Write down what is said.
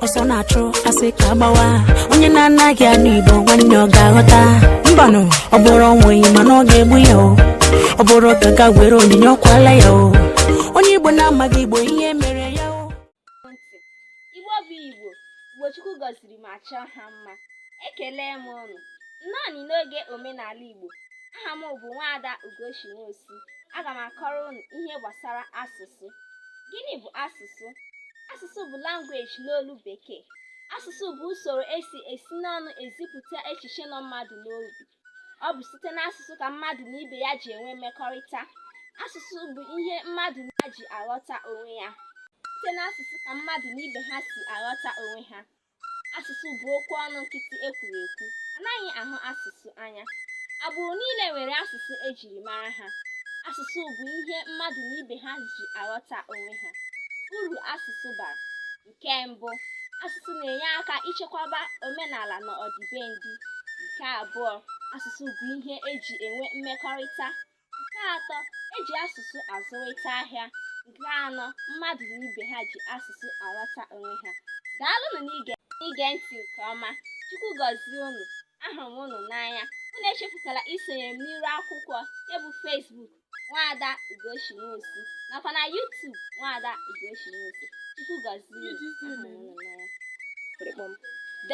ọsọ na-achụ a sị ka a gbawa onye na-anaghị anụ igbo nwanne ọ ga-aghọta mbanụ ọ bụrụ ọnwụ enyi mana ọ ga-egbu ya o ọ bụrụ ka a gaa were onyinye ọ kwaala ya o onye igbo na-amaghị igbo ihe mere ya o ndị igbo bụ igbo igbo chukwu gọziri ma chọọ ha mma ekele m ụnụ nnọọnị n'oge omenala igbo aha m bụ nwaada ugochi nwosu aga m akọrọ ụnụ ihe gbasara asụsụ Gịnị bụ asụsụ? Asụsụ bụ language n'olu Bekee. Asụsụ bụ usoro e si esi n'ọnụ ezipụta echiche nọ mmadụ n'obi. Ọ bụ site n'asụsụ ka mmadụ na ibe ya ji enwe mmekọrịta. Asụsụ bụ ihe mmadụ na ji aghọta onwe ya. Site n'asụsụ ka mmadụ na ibe ha si aghọta onwe ha. Asụsụ bụ okwu ọnụ nkịtị e kwuru ekwu. A naghị ahụ asụsụ anya. Agbụrụ niile nwere asụsụ e jiri mara ha. Asụsụ bụ ihe mmadụ na ibe ha ji aghọta onwe ha. Uru asụsụ bara. Nke mbụ, asụsụ na-enye aka ichekwaba omenala na ọdịbendị. Nke abụọ, asụsụ bụ ihe e ji enwe mmekọrịta. Nke atọ, e ji asụsụ azụrịta ahịa. Nke anọ, mmadụ na ibe ha ji asụsụ aghọta onwe ha. Daalụnụ n'ige ntị nke ọma. Chukwu gọzie unu. Ahụrụ m unu n'anya. Unu echefukwala isonye m n'iru akwụkwọ nke bụ Facebook Nwaada Ugochi Nwosu nakwa na YouTube Nwaada Ugochi Nwosu. Chukwu gọzie unu. Ahụrụ m unu n'anya.